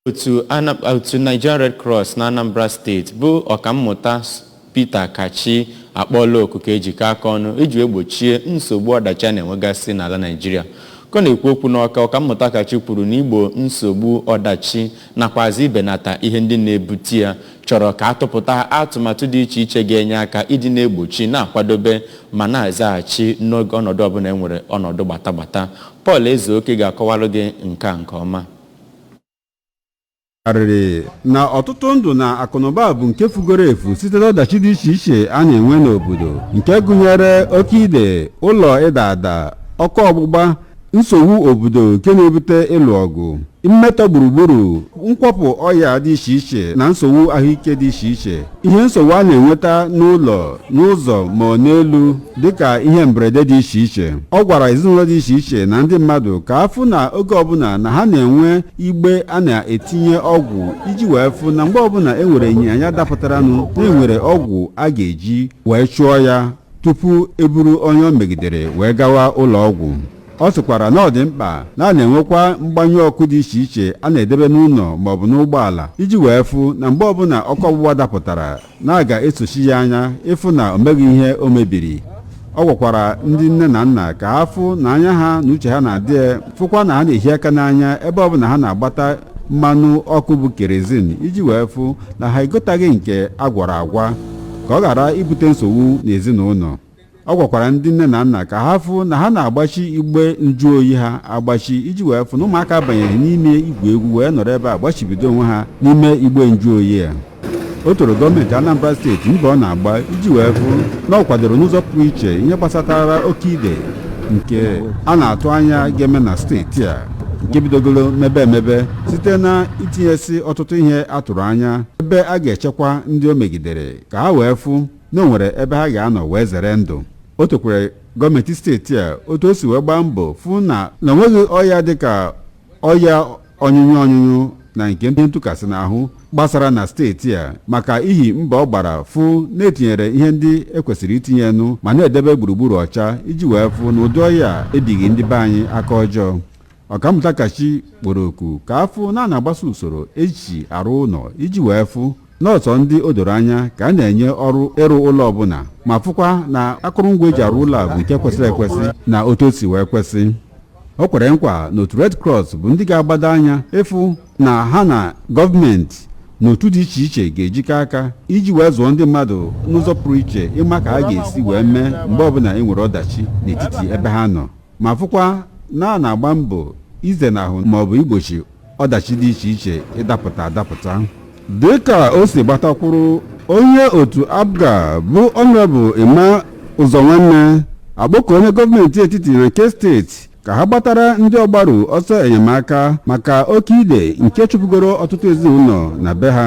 otu Ana- otu Nigerian Red Cross na Anambra State bụ ọkammụta S- Peter Kachi akpọọla oku ka ejikọ aka ọnụ iji wee gbochie nsogbu ọdachi a na-enwegasị n'ala Naịjirịa ka ọ na-ekwu okwu n'Ọka ọkammụta Kachi kwuru na igbo nsogbu ọdachi nakwazi ibenata ihe ndị na-ebute ya chọrọ ka atụpụta atụmatụ dị iche iche ga-enye aka iji na-egbochi na-akwadobe ma na-azaghachi n'oge ọnọdụ ọbụla e nwere ọnọdụ gbatagbata Paul Ezeoke ga-akọwara gị nke a nke ọma. arịrị na ọtụtụ ndụ na akụnụba bụ nke fugoro efu site n'ọdachi dị iche iche a na-enwe n'obodo nke gụnyere oke ide ụlọ ịda ada ọkụ ọgbụgba nsogbu obodo nke na-ebute ịlụ ọgụ mmetọ gburugburu nkwapụ ọya dị iche iche na nsogbu ahụike dị iche iche ihe nsogbu a na-enweta n'ụlọ n'ụzọ ma ọ n'elu dịka ihe mberede dị iche iche ọ gwara ezinụlọ dị iche iche na ndị mmadụ ka afụ na oge ọbụla na ha na-enwe igbe a na-etinye ọgwụ iji wee fụ na mgbe ọbụla e nwere ọnya dapụtaranụ na e nwere ọgwụ a ga-eji wee chụọ ya tupu eburu onye o megidere wee gawa ụlọ ọgwụ ọ sịkwara na ọ dị mkpa na a na-enwekwa mgbanyụ ọkụ dị iche iche a na-edebe n'ụlọ maọbụ n'ụgbọala iji wee fụ na mgbe ọbụla ọkụ ọgbụgba dapụtara na a ga-esochi ya anya ịfụ na o meghị ihe o mebiri ọ gwakwara ndị nne na nna ka ha fụ na anya ha na uche ha na-adị ya fụkwa na ha na-ehi aka n'anya ebe ọbụla ha na-agbata mmanụ ọkụ bụ kerozin iji wee fụ na ha egotaghị nke a gwara agwa ka ọ ghara ibute nsogbu n'ezinụlọ ọ gwakwara ndị nne na nna ka ha fụ na ha na-agbachi igbe njụoyi ha agbachi iji wee fụ na ụmụaka abanyeghị n'ime igwu egwu wee nọrọ ebe a gbachibido onwe ha n'ime igbe njụoyi a o toro gọọmenti Anambra steeti mbọ ọ na-agba iji wee fụ na ọ kwadoro n'ụzọ pụrụ iche ihe gbasatara oke ide nke a na-atụ anya ga-eme na steeti a nke bidogoro mebe emebe site na itinyesi ọtụtụ ihe a tụrụ anya ebe a ga-echekwa ndị o megidere ka ha wee fụ na o nwere ebe ha ga-anọ wee zere ndụ o tokwere gọọmenti steeti a otu o si wee gbaa mbọ fụ na na onweghị ọya dịka ọya ọnyụnyụ ọnyụnyụ na nke ihe ntụkasị n'ahụ gbasara na steeti a maka ihi mbọ ọ gbara fụ na etinyere ihe ndị ekwesịrị itinyenụ ma na-edebe gburugburu ọcha iji wee fụ na ụdị ọya ebighị ndị be anyị aka ọjọọ Ọkammụta Kachi kpọrọ oku ka afụ na a na-agbaso usoro eji arụ ụlọ iji wee fụ na ọ sọ ndị o doro anya ka a na-enye ọrụ ịrụ ụlọ ọbụla ma fụkwa na akụrụngwa eji arụ ụlọ bụ nke kwesịrị ekwesị na otu o si wee kwesị o kwere nkwa na otu Red Cross bụ ndị ga-agbado anya ịfụ na ha na gọọmenti na otu dị iche iche ga-ejikọ aka iji wee zụọ ndị mmadụ n'ụzọ pụrụ iche ịma ka ha ga-esi wee mee mgbe ọbụla e nwere ọdachi n'etiti ebe ha nọ ma fụkwa na a na-agba mbọ izenahụ maọbụ igbochi ọdachi dị iche iche ịdapụta adapụta dịka o si gbata kwụrụ onye otu apga bụ honourable emma ụzọnwanne akpọọ oku nye gọọmenti etiti na nke steeti ka ha gbatara ndị ọgbaru ọsọ enyemaka maka oke ide nke chụpụgoro ọtụtụ ezinụlọ na be ha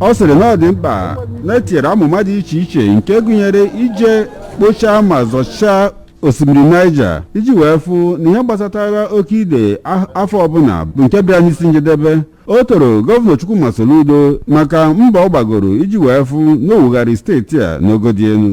ọ sịrị na ọ dị mkpa na e tinyere amụma dị iche iche nke gụnyere ije kpochaa ma zọchaa osimiri niger iji wee fụ na ihe gbasatara oke ide afọ ọbụla bụ nke bịara n'isi njedebe o toro gọvanọ chukwuma soludo maka mbọ ọ gbagoro iji wee fụ na o wugharị steeti a n'ogo dị elu